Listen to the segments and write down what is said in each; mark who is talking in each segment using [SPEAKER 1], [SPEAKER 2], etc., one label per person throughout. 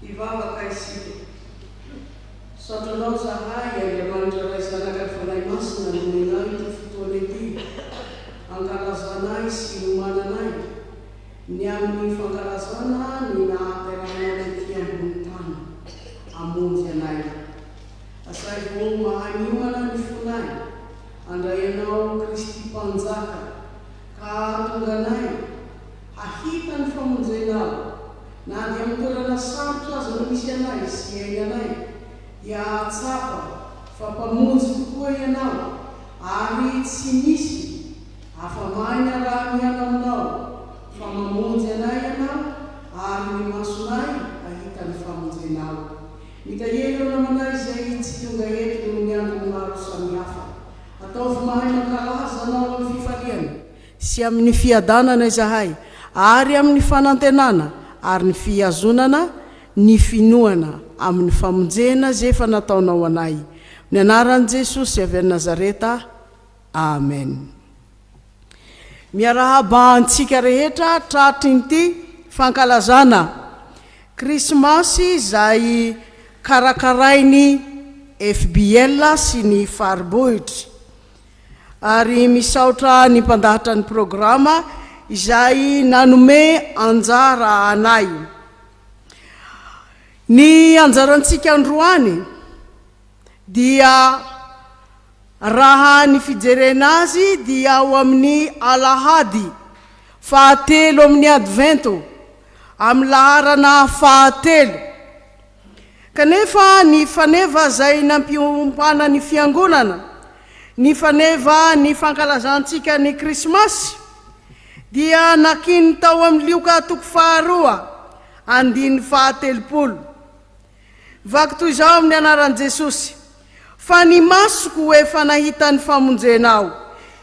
[SPEAKER 1] Hivavaka isika. Misaotra Anao zahay, Andriamanitra Ray, Zanaka ary Fanahy Masina nomenao ity fotoana ity hankalazanay sy hiomananay ny amin'ny fankalazana ny nahaterahanao tetika ambony tany hamonjy anay. Asaivo mahay miomana ny fonay handray Anao Kristy Mpanjaka ka hahatonga anay Hahita ny famonjena aho, na dia amin'ny toerana sarotra aza no misy anay sy iainanay, dia hahatsapa fa Mpamonjy tokoa Ianao, ary tsy misy afa-mahay ny araha-miaina aminao, fa mamonjy anay Ianao, ary ny masonay hahita ny famonjenao. Mitahiry ireo namanay izay tsy tonga eto noho ny antony maro samihafa. Ataovy mahay mankalaza Anao amin'ny fifaliana. sy amin' ny fiadanana izahay, ary amin' ny fanantenana ary ny fihazonana ny finoana amin' ny famonjena izay efa nataonao ho anay, amin' ny anaran' i Jesosy avy any Nazareta, amena. Miarahaba antsika rehetra tratry ny ity fankalazana Krismasy izay karakarain' ny FBL sy ny Faribohitra. ary misaotra ny mpandahatra ny programa izay nanome anjara anay. Ny anjarantsika androany dia raha ny fijerena azy dia ao amin'ny alahady fahatelo amin'ny advento amin'ny laharana fahatelo, Kanefa ny faneva izay nampiompana ny Fiangonana, ny faneva ny fankalazantsika ny Krismasy, dia nakiany tao amin'ny Lioka toko faharoa, andininy fahatelopolo. Vaky toy izao amin'ny anaran'i Jesosy, Fa ny masoko efa nahita ny famonjena aho.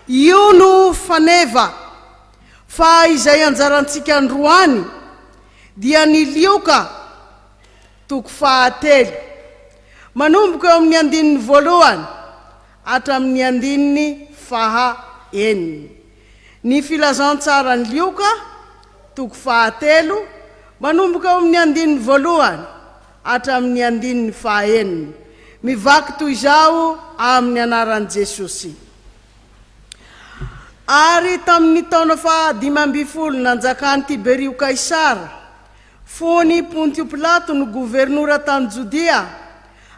[SPEAKER 1] Io no faneva. Fa izay anjarantsika androany. dia ny Lioka, toko fahatelo, manomboka eo amin'ny andininy voalohany hatramin'ny andininy faha enina. Ny Filazantsaran'i Lioka, toko fahatelo, manomboka eo amin'ny andininy voalohany hatramin'ny andininy faha enina, mivaky toy izao amin'ny anaran'i Jesosy. Ary tamin' ny taona fahadimy ambin'ny folo nanjakan' i Tiberio Kaisara, fony i Pontio Pilato no governora tany Jodia,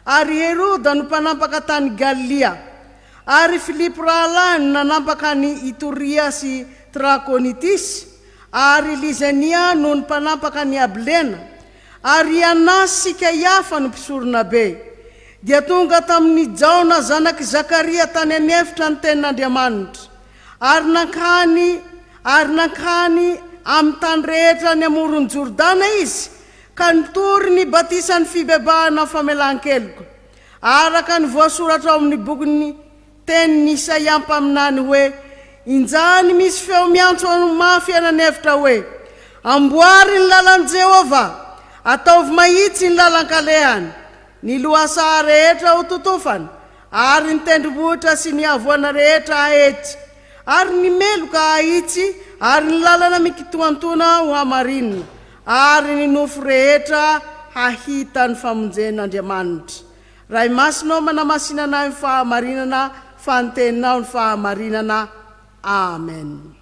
[SPEAKER 1] ary Heroda no mpanampaka tany Galilia, ary Filipo rahalahiny no nanampaka an' i Itoria sy Trakonitisy, ary Lisania noho ny mpanampaka an' i Abilena, Ary i Anas sy Kaiafa no mpisoronabe, dia tonga tamin' i Jaona zanak' i Zakaria tany an' efitra ny tenin' Andriamanitra, ary nankany ary nankany amin' ny tany rehetra any amoron' Jordana izy, ka nitory ny batisan' ny fibebahana ny famelan-keloka, araka ny voasoratra ao amin' ny bokin' ny Tenin'i Isaia mpaminany hoe, Injany misy feo miantso anao mafy eny an'efitra hoe, 'Amboary ny lalan'i Jehovah, ataovy mahitsy ny lalan-kalehany. Ny lohasaha rehetra ho totofana, ary ny tendrombohitra sy ny havoana rehetra hahitsy, ary ny meloka hahitsy, ary ny lalana mikintoantoana ho hamarinina, ary ny nofo rehetra hahita ny famonjen'Andriamanitra. Raha i Masinao manamasinana ahy amin'ny fahamarinana fa ny Teninao no fahamarinana. Amen.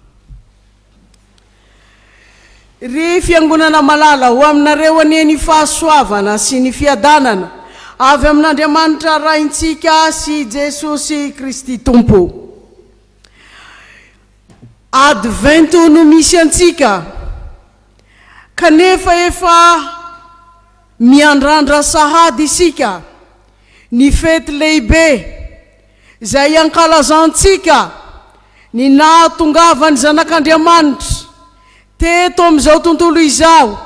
[SPEAKER 1] Ry fiangonana malala, ho aminareo anie ny fahasoavana sy ny fiadanana avy amin'Andriamanitra Raintsika sy Jesosy Kristy Tompo. Advento no misy antsika kanefa efa. Miandrandra sahady isika ny fety lehibe izay ankalazantsika ny nahatongavan'ny Zanak'Andriamanitra teto amin'izao tontolo izao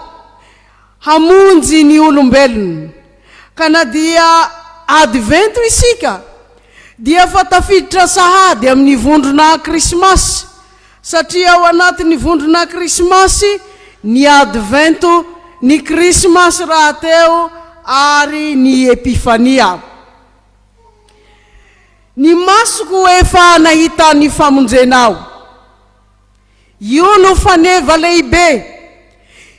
[SPEAKER 1] hamonjy ny olombelona. Ka na dia Advento isika dia efa tafiditra sahady amin'ny vondrona Krismasy Satria ao anatin'ny vondrona Krismasy ny Advento, ny Krismasy rahateo ary ny Epifania. Ny masoko efa nahita ny famonjena aho. Io no faneva lehibe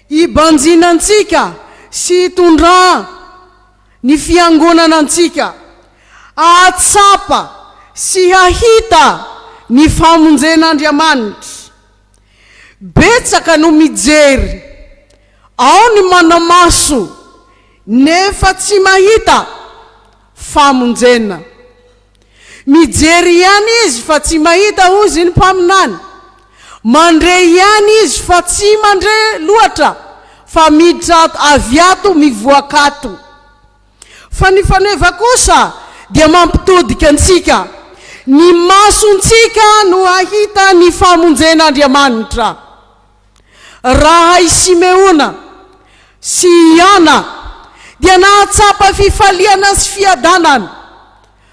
[SPEAKER 1] ibanjinantsika sy itondràn ny fiangonana antsika hahatsapa sy hahita ny famonjen'Andriamanitra. Betsaka no mijery, ao ny manamaso nefa tsy mahita famonjena. Mijery ihany izy fa tsy mahita hoy izy ny mpaminany. Mandre ihany izy fa tsy mandre loatra fa miditra ato, avy ato mivoaka ato. Fa ny faneva kosa dia mampitodika antsika. Ny masontsika no hahita ny famonjen'Andriamanitra. Raha i Simeona sy i Ana dia nahatsapa fifaliana sy fiadanana.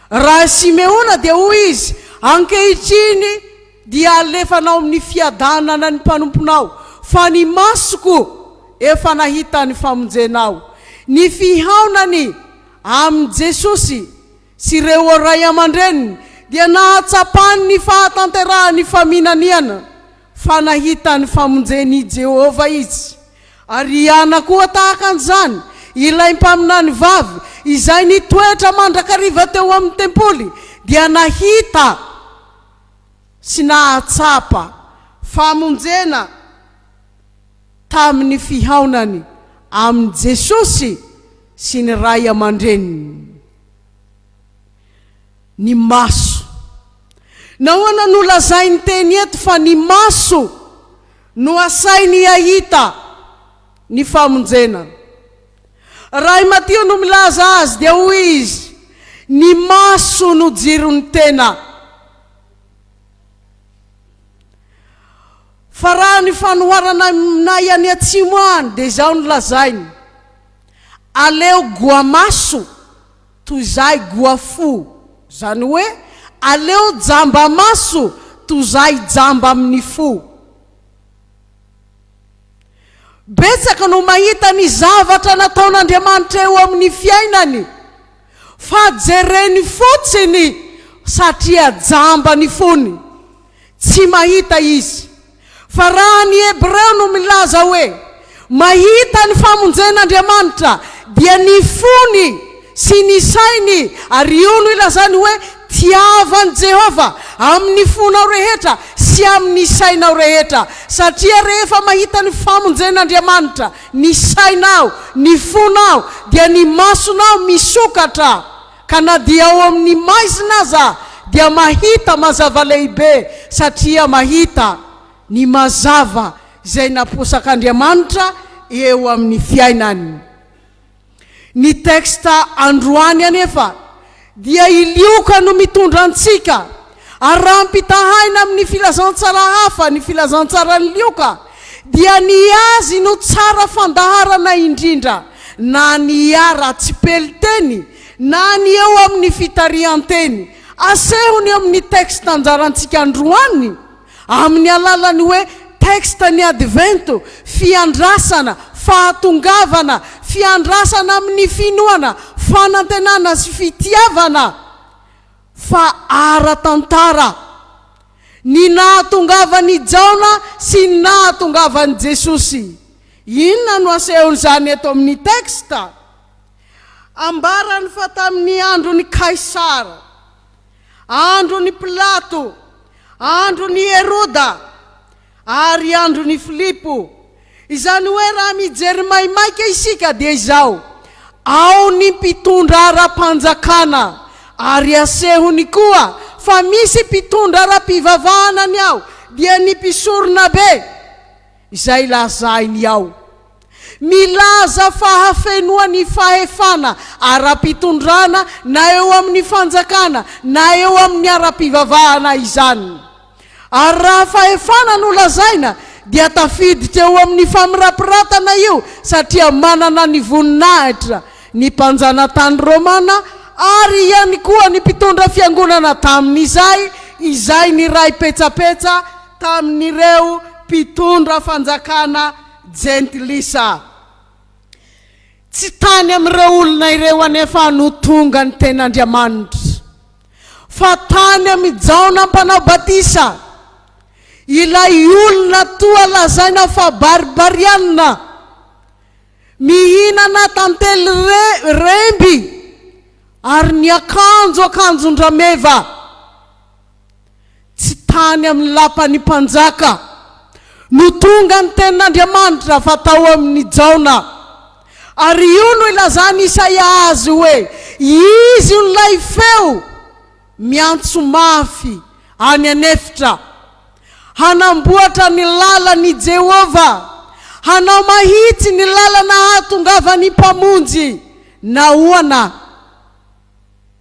[SPEAKER 1] Raha i Simeona dia hoy izy, Ankehitriny dia alefanao amin'ny fiadanana ny mpanomponao, fa ny masoko efa nahita ny famonjenao. Ny fihaonany amin'i Jesosy sy ireo ray aman-dreniny dia nahatsapany ny fahatanterahan'ny faminaniana fa nahita ny famonjen'i Jehovah izy. Ariana koa tahaka an'izany ilay mpaminany vavy izay nitoetra mandrakariva teo amin'ny tempoly dia nahita sy nahatsapa famonjena tamin'ny fihaonany amin'i Jesosy sy ny ray aman-dreniny. Ny maso. Nahoana no lazain'ny teny eto fa ny maso no asainy hahita ny famonjena? Raha i Matio no milaza azy dia hoy izy, Ny maso no jiron'ny tena. Fa raha ny fanoharana aminay any atsimo any dia izao no lazainy, Aleo goamaso toy izahy goafo, izany hoe aleo jamba maso toy izahy jamba amin'ny fo. Betsaka no mahita ny zavatra nataon'Andriamanitra eo amin'ny fiainany. Fa jereny fotsiny satria jamba ny fony, tsy mahita izy. Fa raha ny Hebreo no milaza hoe mahita ny famonjen'Andriamanitra dia ny fony sy ny sainy ary io no ilazany hoe tiavo an'i Jehovah amin'ny fonao rehetra sy amin'ny sainao rehetra satria rehefa mahita ny famonjen'Andriamanitra Ny sainao, ny fonao, dia ny masonao misokatra, ka na dia ao amin' ny maizina aza dia mahita mazava lehibe, satria mahita ny mazava izay naposak' Andriamanitra eo amin' ny fiainany. Ny texte androany anefa dia i Lioka no mitondra antsika ary raha ampitahaina amin'ny filazantsara hafa ny filazantsaran'i Lioka dia ny azy no tsara fandaharana indrindra na ny ara-tsipelin-teny na ny eo amin'ny fitarihan-teny. Asehony eo amin'ny texte anjarantsika androany. Amin'ny alalan'ny hoe texte ny Advento, fiandrasana, fahatongavana, fiandrasana amin'ny finoana, fanantenana sy fitiavana, fa ara-tantara. Ny nahatongavan'i Jaona sy ny nahatongavan'i Jesosy. Inona no asehon'izany eto amin'ny texte? Ambarany fa tamin'ny andron'i Kaisara. andron'i Pilato, andron'i Heroda, ary andron'i Filipo. Izany hoe raha mijery maimaika isika dia izao, ao ny mpitondra ara-panjakana, ary asehony koa fa misy mpitondra ara-pivavahana ny ao, dia ny mpisoronabe izay lazainy ao. Milaza fa hafenoa ny fahefana ara-pitondrana na eo amin'ny fanjakana na eo amin'ny ara-pivavahana izany. Ary raha fahefana no lazaina dia tafiditra eo amin'ny famirapiratana io satria manana ny voninahitra ny mpanjanatany romana ary ihany koa ny mpitondra fiangonana tamin'izay izay niray petsapetsa tamin'ireo mpitondra fanjakana Jentilisa. Tsy tany amin'ireo olona ireo anefa no tonga ny Tenin'Andriamanitra, fa tany amin'i Jaona Mpanao Batisa, ilay olona toa lazaina fa Barbariana, mihinana tantely remby ary niakanjo akanjon-drameva. Tsy tany amin'ny lapan'ny mpanjaka no tonga ny tenin'Andriamanitra fa tao amin'i Jaona. Ary io no ilazan'i Isaia azy hoe, Izy io ilay feo miantso mafy any an'efitra. Hanamboatra ny lalan' i Jehovah, hanao mahitsy ny lalana hahatongavan'ny Mpamonjy. Nahoana?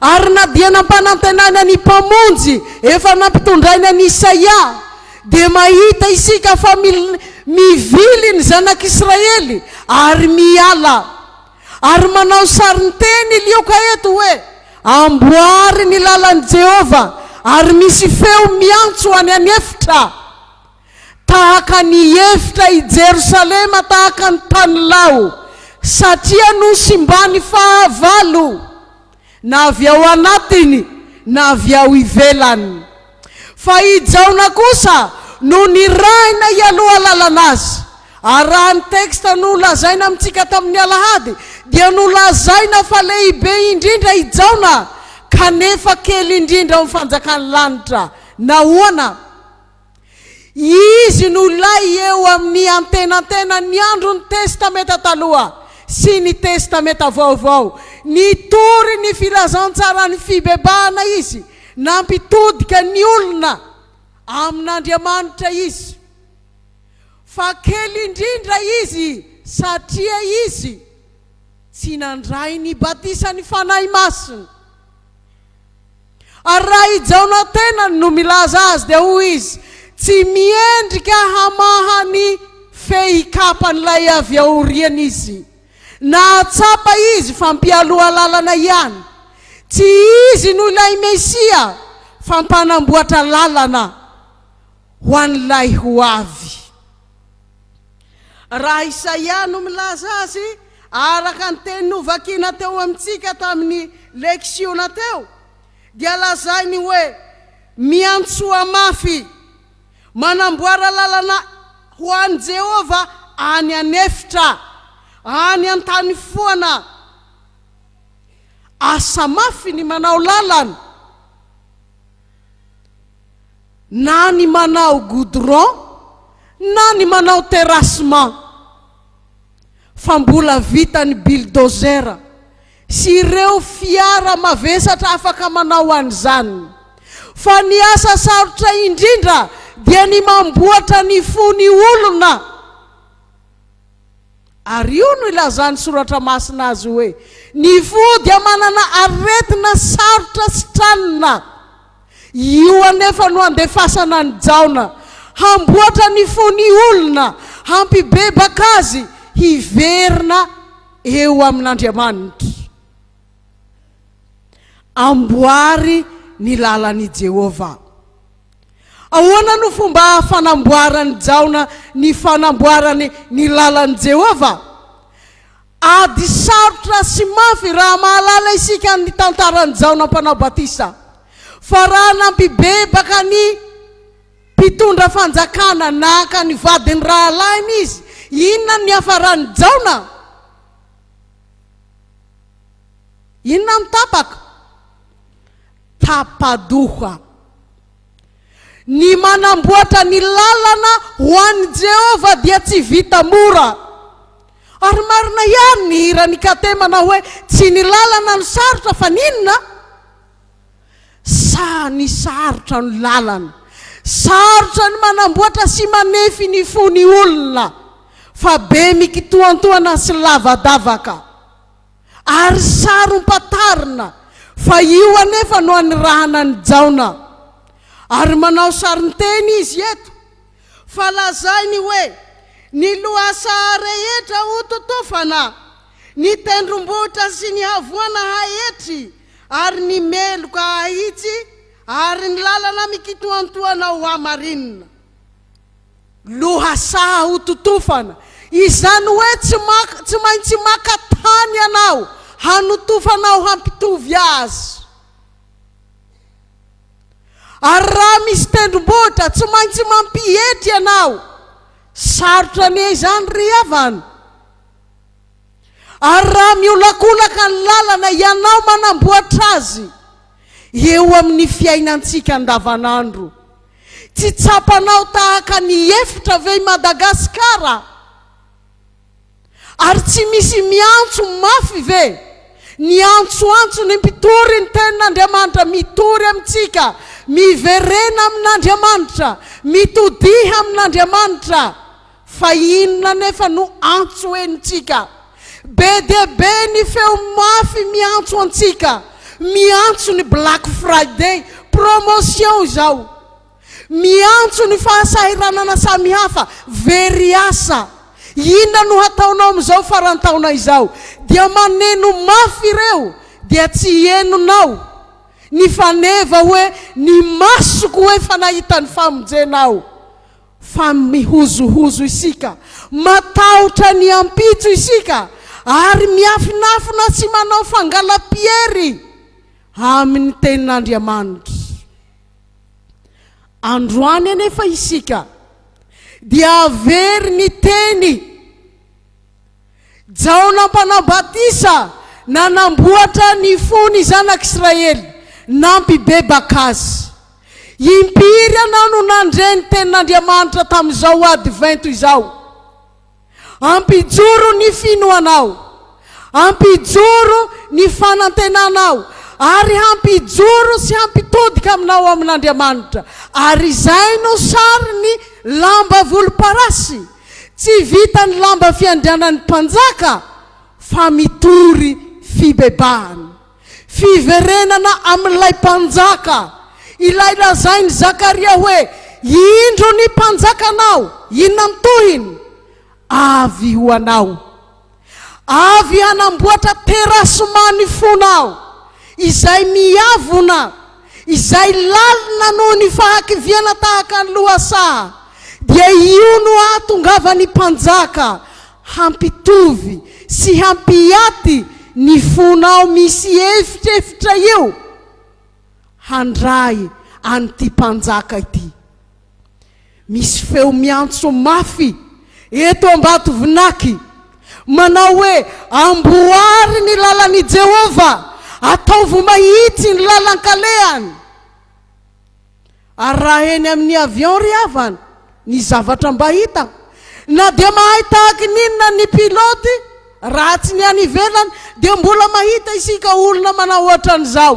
[SPEAKER 1] Ary na dia nampanantenaina ny Mpamonjy efa nampitondrainy an'i Isaia, dia mahita isika fa mivily ny zanak'Israely ary miala. Ary manao sarinteny i Lioka eto hoe, Amboary ny lalan'i Jehovah, ary misy feo miantso any an'efitra. tahaka ny hihevitra i Jerosalema tahaka ny tanilao, satria nosimbany fahavalo, na avy ao anatiny na avy ao ivelany. Fa i Jaona kosa no nirahina hialoha alalana azy, ary raha ny texte nolazaina amintsika tamin'ny alahady dia nolazaina fa lehibe indrindra i Jaona kanefa kely indrindra ao amin'ny fanjakan'ny lanitra. Nahoana? Izy no lay eo amin'ny antenantenan'ny andron'ny Testamenta Taloha sy ny Testamenta Vaovao. Nitory ny filazantsaran'ny fibebahana izy, nampitodika ny olona amin'Andriamanitra izy. Fa kely indrindra izy satria izy tsy nandray ny batisan'ny Fanahy Masina. Ary raha i Jaona tenany no milaza azy dia hoy izy, Tsy miendrika hamaha ny fehikapan'ilay avy aoriana izy. Nahatsapa izy fa mpialoha lalana ihany. Tsy izy no ilay Mesia fa mpanamboatra lalana ho an'ilay ho avy. Raha Isaia no milaza azy, araka ny teny novakina teo amintsika tamin'ny leksiona teo, dia lazainy hoe miantsoa mafy, manamboara lalana ho an'i Jehovah any an'efitra, any an-tany foana. Asa mafy ny manao lalana. Na ny manao goudron na ny manao terrassement fa mbola vitan'ny bulldozer sy ireo fiara mavesatra afaka manao an'izany. Fa ny asa sarotra indrindra dia ny mamboatra ny fo ny olona. Ary io no ilazan'ny Soratra Masina azy hoe, Ny fo dia manana aretina sarotra sitranina. Io anefa no andefasana an'i Jaona hamboatra ny fon'ny olona, hampibebaka azy hiverina eo amin'Andriamanitra. Amboary ny lalan'i Jehovah. Ahoana no fomba fanamboaran'i Jaona ny fanamboarany ny lalan'i Jehovah? Ady sarotra sy mafy raha mahalala isika ny tantaran'i Jaona Mpanao Batisa. Fa raha nampibebaka ny mpitondra fanjakana naka ny vadin'ny rahalahiny izy, inona no niafaran'i Jaona? Inona no tapaka? Tapa-doha. Ny manamboatra ny lalana ho an'i Jehovah dia tsy vita mora. Ary marina ihany ny hiran'i Kate manao hoe, Tsy ny lalana no sarotra fa ny inona? Sa ny sarotra no lalana? Sarotra ny manamboatra sy manefy ny fo ny olona, fa be mikitoantoana sy lavadavaka. Ary sarom-pantarina fa io anefa no anirahana an'i Jaona. Ary manao sarin-teny izy eto, fa lazainy hoe, Ny lohasaha rehetra hototofana, ny tendrombohitra sy ny havoana haetry, ary ny meloka hahitsy, ary ny lalana mikitoantoana hohamarinina. Lohasaha ho totofana, izany hoe tsy maka, tsy maintsy maka tany ianao hanotofanao hampitovy azy. Ary raha misy tendrombohitra, tsy maintsy mampietry ianao. Sarotra anie izany ry havana. Ary raha miolakolaka ny lalana ianao manamboatra azy eo amin'ny fiainantsika andavanandro, tsy tsapanao tahaka ny efitra ve i Madagasikara? Ary tsy misy miantso mafy ve ny antsoantso ny mpitory ny tenin'Andriamanitra, mitory amintsika, miverena amin'Andriamanitra, mitodiha amin'Andriamanitra? Fa inona anefa no antso henontsika? Be dia be ny feo mafy miantso antsika, miantso ny Black Friday, promotion izao, miantso ny fahasahiranana samihafa, very asa. Inona no hataonao amin'izao faran-taona izao? Dia maneno mafy ireo, dia tsy henonao. Ny faneva hoe, Ny masoko efa nahita ny famonjena aho. Fa mihozohozo isika, matahotra ny ampitso isika, ary miafinafina sy manao fangalam-piery amin'ny Tenin'Andriamanitra. Androany anefa isika dia very ny Teny Jaona Mpanao Batisa nanamboatra ny fo ny zanak'Israely, nampibebaka azy. Impiry ianao no nandre ny tenin'Andriamanitra tamin'izao Advento izao? Ampijoro ny finoanao, ampijoro ny fanantenanao, ary hampijoro sy hampitodika aminao amin'Andriamanitra, ary izay no sarin'ny lamba volomparasy. Tsy vitan'ny lamba fiandrianan'ny mpanjaka fa mitory fibebahana. Fiverenana amin'ilay mpanjaka, ilay lazain'i Zakaria hoe, Indro ny mpanjakanao, inona ny tohiny? Avy ho anao. Avy hanamboatra terasy manifona aho, izay miavona, izay lalina noho ny fahakiviana tahaka ny lohasaha, dia io no hahatongavan'ny mpanjaka hampitovy sy hampiaty ny fonao misy efitrefitra io, handray an'ity mpanjaka ity. Misy feo miantso mafy eto Ambatovinaky, manao hoe, Amboary ny lalan'i Jehovah, ataovy mahitsy ny lalan-kalehany. Ary raha eny amin'ny avion ry havana, ny zavatra mba hita, na dia mahay tahaka ny inona ny pilote, raha tsy ny any ivelany, dia mbola mahita isika olona manao hoatran'izao.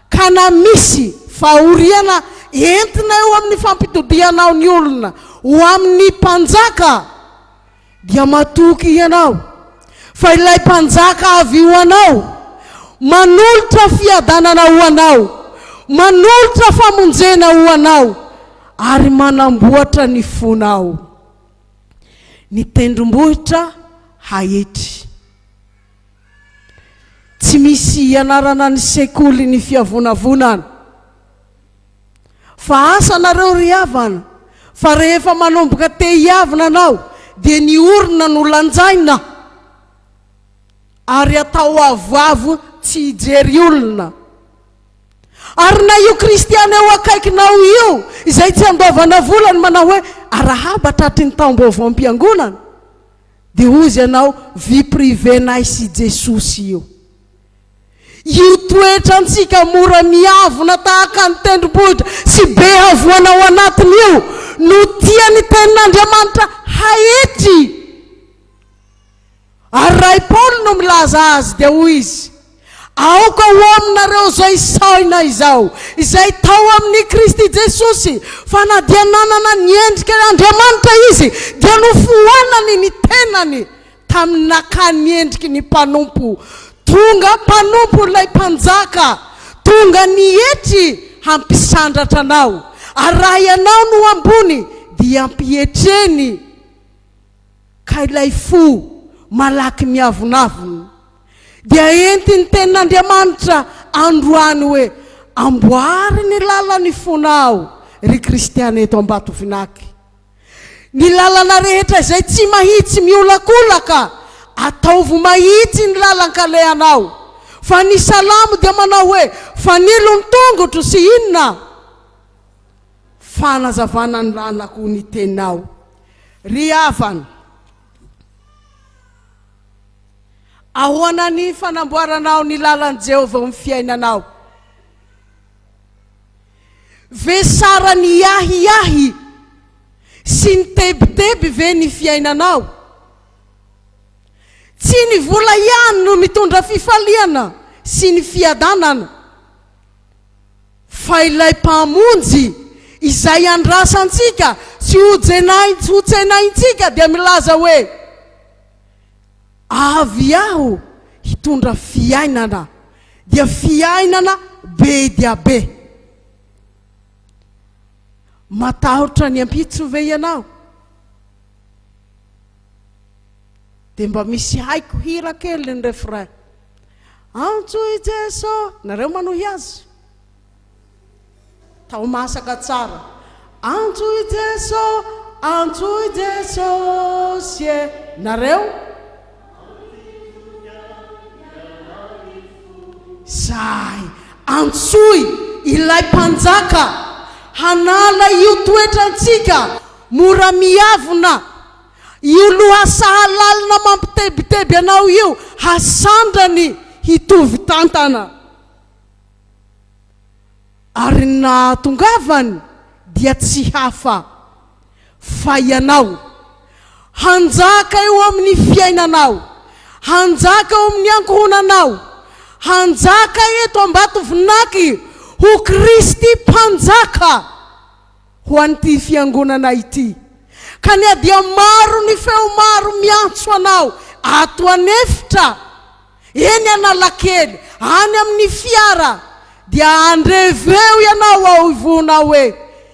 [SPEAKER 1] Ka na misy fahoriana entina eo amin'ny fampitodihanao ny olona ho amin'ny mpanjaka, dia matoky hianao, fa ilay mpanjaka avy ho anao manolotra fiadanana ho anao, manolotra famonjena ho anao, ary manamboatra ny fonao. Ny tendrombohitra hahitry. Tsy misy ianarana ny sekoly ny fiavonavonana fa asa nareo ry havana fa rehefa manomboka te hiavona anao dia ny orona no lanjaina ary atao avoavo tsy hijery olona ary na io kristiana eo akaikinao io izay tsy andoavana vola ny manao hoe arahaba tratry ny taom-baovaom-piangonana Dia hozy ianao vie privée nay sy Jesosy io. Io toetra antsika mora miavona tahaka ny tendrombohitra sy be havoana ao anatiny io no tia ny tenin'Andriamanitra haetry. Ary ray Paoly no milaza azy dia hoy izy. Aoka ho aminareo izay sahina izao, izay tao amin'i Kristy Jesosy, fa na dia nanana ny endrika Andriamanitra Izy, dia nofoanany ny tenany tamin'ny nakany ny endriky ny mpanompo, tonga
[SPEAKER 2] mpanompo ilay Mpanjaka tonga nietry hampisandratra anao, ary raha ianao no ambony, dia ampietreny. ka ilay fo malaky miavonavona dia entin'ny Tenin'Andriamanitra androany hoe, Amboary ny lalan'ny fonao, ry kristiana eto Ambatovinaky. Ny lalana rehetra izay tsy mahitsy miolakolaka, ataovy mahitsy ny lalan-kalehanao. Fa ny Salamo dia manao hoe, Fanilo ny tongotro sy inona? Fanazavana ny lalako ny tenao ry havana. Ahoana ny fanamboaranao ny lalan'i Jehovah eo amin'ny fiainanao? Ve saran'ny ahiahy sy ny tebiteby ve ny fiainanao? Tsy ny vola ihany no mitondra fifaliana sy ny fiadanana. fa ilay Mpamonjy izay andrasantsika sy hotsenaintsika dia milaza hoe, Avy Aho hitondra fiainana, dia fiainana be dia be. Matahotra ny ampitso ve ianao? Dia mba misy haiko hira kely ny refrain. Antso i Jeso, nareo manohy Azy. Tao masaka tsara. Antso i Jeso, antso i Jesosy e, nareo. Zay, antsoy Ilay Mpanjaka hanala io toetrantsika mora miavona. Io lohasaha lalina mampitebiteby anao io hasandrany hitovy tantana. Ary ny nahatongavany dia tsy hafa fa ianao. Hanjaka eo amin'ny fiainanao, hanjaka eo amin'ny ankohonanao, hanjaka eto Ambatovinaky ho Kristy Mpanjaka! ho an'ity fiangonana ity, ka ny adia maro ny feo maro miantso anao ato an'efitra, eny Analakely, any amin'ny fiara, dia andreveo ianao ao ivonao hoe,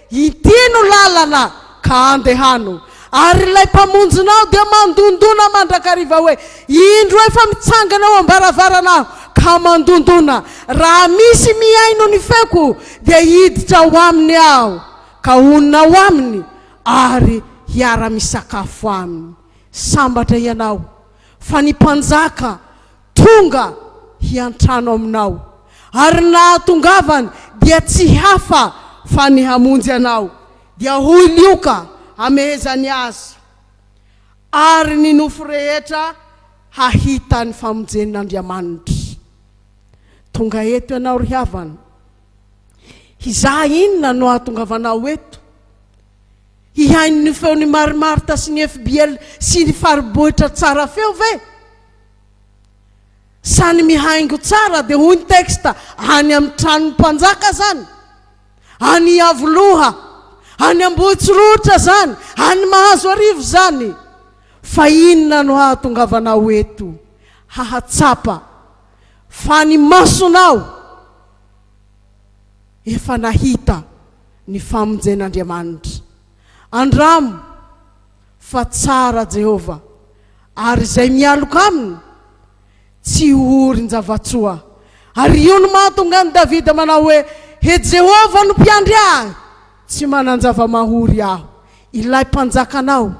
[SPEAKER 2] Inty no lalana ka andehano, Ary ilay Mpamonjina aho dia mandondona mandrakariva hoe, Indro efa mitsangana eo am-baravarana aho ka mandondona, raha misy mihaino ny feoko dia hiditra ao aminy aho ka honina ao aminy ary hiara-misakafo aminy. Sambatra ianao, fa ny Mpanjaka tonga hiantrano aminao, ary ny nahatongavany dia tsy hafa fa ny hamonjy anao, Dia hoy Lioka hamehezany azy, Ary ny nofo rehetra hahita ny famonjen'Andriamanitra. Tonga eto ianao ry havana. Hizaha inona no hahatongavanao eto. Hihaino ny feon'i Mary Marta sy ny fbl sy ny faribohitra tsara feo ve? Sa ny mihaingo tsara dia hoy ny texte any amin'ny tranon'ny mpanjaka zany? Any Iavoloha, any Ambohitsorohitra zany, any Mahazoarivo izany. Fa inona no hahatongavanao eto hahatsapa fa ny masonao efa nahita ny famonjen'Andriamanitra? Andramo fa tsara Jehovah, ary izay mialoka aminy Tsy orin-java-tsoa. Ary io no mahatonga an'i Davida manao hoe, He Jehovah no mpiandry ahy, tsy manan-java-mahory aho. Ilay Mpanjakanao,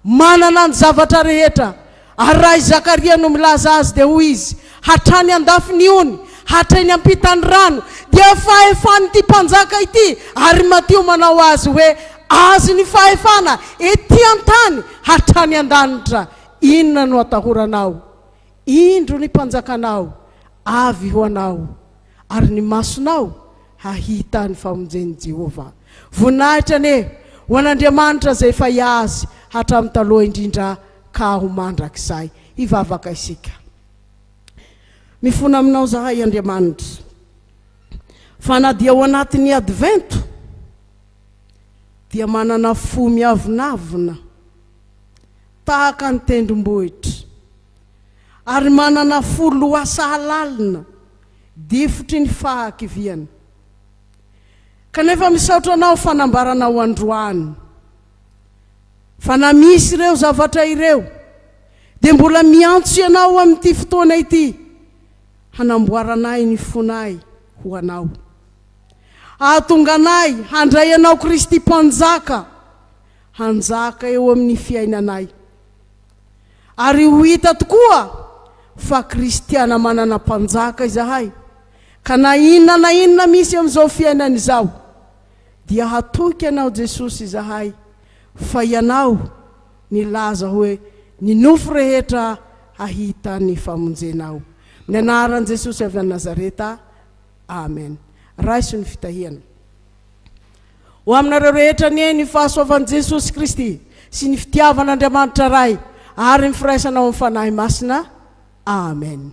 [SPEAKER 2] manana ny zavatra rehetra. Ary raha i Zakaria no milaza azy, dia hoy izy, Hatrany an-dafin'ny ony, hatreny am-pitan'ny rano, dia fahefan'ity Mpanjaka ity, ary Matio manao azy hoe, Azy ny fahefana, etỳ an-tany, hatrany an-danitra. Inona no atahoranao? Indro ny mpanjakanao avy ho anao, ary ny masonao hahita ny famonjen'i Jehovah. Voninahitra anie ho an'Andriamanitra izay fay azy hatramin'ny taloha indrindra ka ho mandrakizay. Hivavaka isika. Mifona aminao izahay, Andriamanitra, fa na dia ao anatin'ny Advento dia manana fo miavonavona. Tahaka ny tendrombohitra. Ary manana fo lohasahalalina, difotry ny fahakiviana. Kanefa misaotra anao fanambaranao androany. Fa na misy ireo zavatra ireo, dia mbola miantso ianao amin'ity fotoana ity hanamboaranay ny fonay ho anao. Hahatonga anay handray anao Kristy Mpanjaka hanjaka eo amin'ny fiainanay, ary ho hita tokoa fa kristiana manana Mpanjaka izahay, ka na inona na inona misy amin'izao fiainana izao, dia hatoky Anao Jesosy izahay, fa Ianao nilaza hoe ny nofo rehetra hahita ny famonjenao. Amin'ny anaran'i Jesosy avy any Nazareta, Amen. Raiso ny fitahiana. Ho aminareo rehetra anie ny fahasoavan'i Jesosy Kristy sy ny fitiavan'Andriamanitra Ray ary ny firaisanao amin'ny Fanahy Masina. Amen.